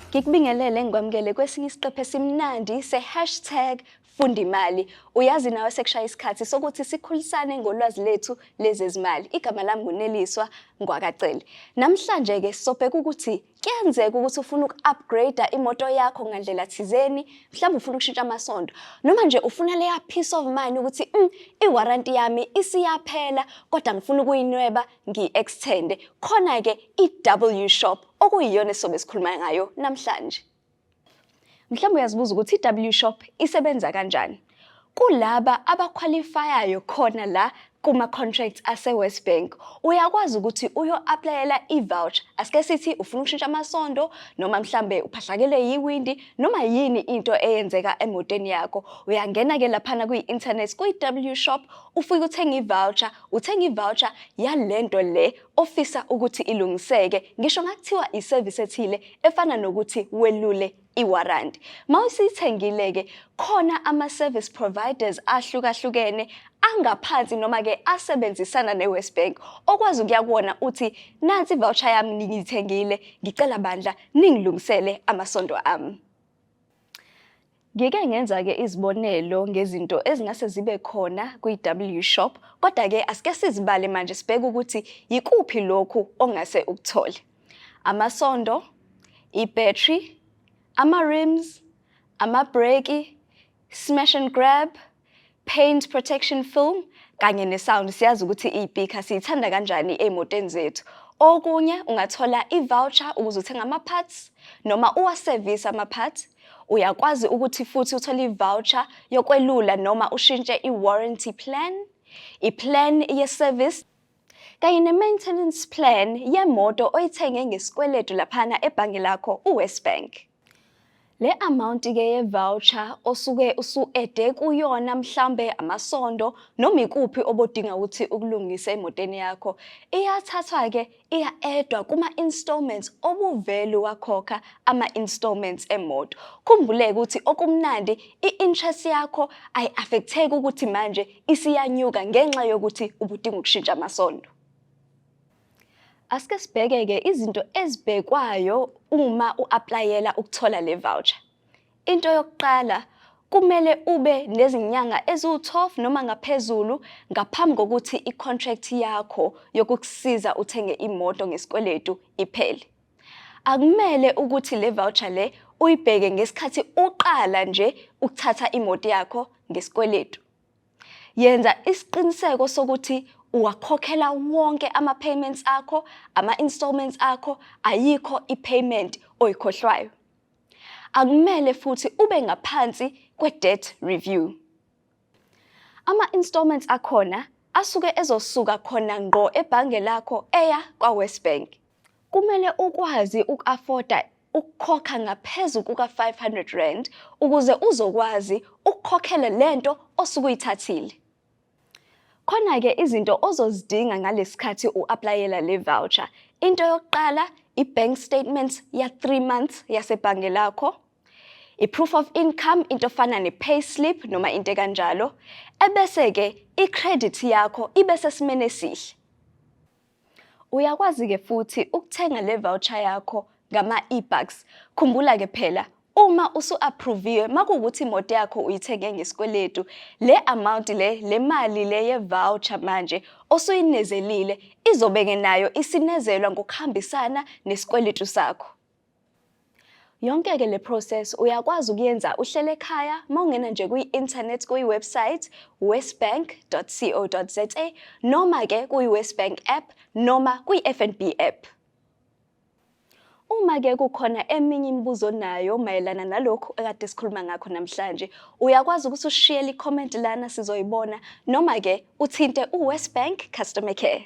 Ngikubingelele ngikwamukele kwesinye isiqephu esimnandi se-hashtag funda imali. Uyazi nawe sekushaya isikhathi sokuthi sikhulisane ngolwazi lethu lezezimali. Igama lami nguneliswa Ngwakacele. Namhlanje-ke sobheka ukuthi Kuyenzeka ukuthi ufuna uku-upgrade imoto yakho ngandlela thizeni, mhlawumbe ufuna ukushintsha amasondo, noma nje ufuna leya peace of mind ukuthi mm, i-warranty yami isiyaphela kodwa ngifuna ukuyinweba ngiyi-extende. Khona-ke i-W Shop okuyiyona esizobe sikhuluma ngayo namhlanje. Mhlawumbe uyazibuza ukuthi i-W Shop isebenza kanjani. Kulaba abakhwalifayayo khona la kuma-contracts ase-West Bank uyakwazi ukuthi uyo-aplayela i-voucher asike sithi ufuna ukushintsha amasondo noma mhlambe uphahlakele yiwindi noma yini into eyenzeka emotweni yakho uyangena-ke laphana kwi-internet kwi-w shop ufike uthenge i-voucher uthenge i-voucher yale nto le ofisa ukuthi ilungiseke ngisho ngakuthiwa iservice ethile efana nokuthi welule iwarranty mawusithengile ke khona ama service providers ahlukahlukene angaphansi noma ke asebenzisana neWest Bank okwazi ukuya kuwona uthi nansi voucher yami ngiyithengile ngicela bandla ningilungisele amasonto ami Ngike ngenza-ke izibonelo ngezinto ezingase zibe khona kwi-W Shop, kodwa-ke asike sizibale manje sibheke ukuthi yikuphi lokhu ongase ukuthole. Amasondo, i-battery, ama-rims, amabhreki, smash and grab, paint protection film kanye ne-sound siyazi ukuthi iyipikha siyithanda kanjani ey'motweni zethu okunye ungathola i-voucher ukuze uthenge ama-parts noma uwasevise ama-parts uyakwazi ukuthi futhi uthole i-voucher yokwelula noma ushintshe i-warranty plan i-plan ye-service kanye ne-maintenance plan yemoto oyithenge ngesikweletu laphana ebhange lakho uwest bank Le amount ke ye voucher osuke usuede kuyona mhlambe amasondo noma ikuphi obodinga ukuthi ukulungise emotweni yakho iyathathwa ke iya edwa kuma installments obuvelu wakhokha ama installments emoto khumbuleke ukuthi okumnandi i-interest yakho ayi affecteki ukuthi manje isiyanyuka ngenxa yokuthi ubudinga ukushintsha amasondo Asike sibheke-ke izinto ezibhekwayo uma u-aplayela ukuthola le voucher. Into yokuqala kumele ube nezinyanga eziwu-12 noma ngaphezulu ngaphambi kokuthi i-contract yakho yokukusiza uthenge imoto ngesikweletu iphele. Akumele ukuthi le voucher le uyibheke ngesikhathi uqala nje ukuthatha imoto yakho ngesikweletu. Yenza isiqiniseko sokuthi uwakhokhela wonke ama-payments akho, ama-installments akho, ayikho i-payment oyikhohlwayo. Akumele futhi ube ngaphansi kwe-debt review. Ama-installments akhona asuke ezosuka khona ngqo ebhange lakho eya kwaWesBank. Kumele ukwazi uku-afoda ukukhokha ngaphezu kuka-500 ukuze uzokwazi ukukhokhela le nto osuke uyithathile. Khona-ke izinto ozozidinga ngalesikhathi u-aplayela le voucher. Into yokuqala i-bank statement ya-3 months yasebhange lakho, i-proof of income into efana ne-pay slip noma into ekanjalo, ebese-ke i-credit yakho ibe sesimeni esihle. Uyakwazi-ke futhi ukuthenga le voucher yakho ngama-e-bucks. Khumbula-ke phela uma usu-approviwe makuwukuthi imoto yakho uyithenge ngesikweletu le amount le le mali le ye-voucher manje osuyinezelile izobe-ke nayo isinezelwa ngokuhambisana nesikweletu sakho. Yonke ke le process uyakwazi ukuyenza uhlele ekhaya mawungena nje kwi-internet kuyi-website westbank.co.za noma ke kuyi-westbank app noma kwi-FNB app. Uma ke kukhona eminye imibuzo onayo mayelana nalokhu ekade sikhuluma ngakho namhlanje, uyakwazi ukuthi ushiyele i-comment lana sizoyibona noma ke uthinte u-Westbank Customer Care.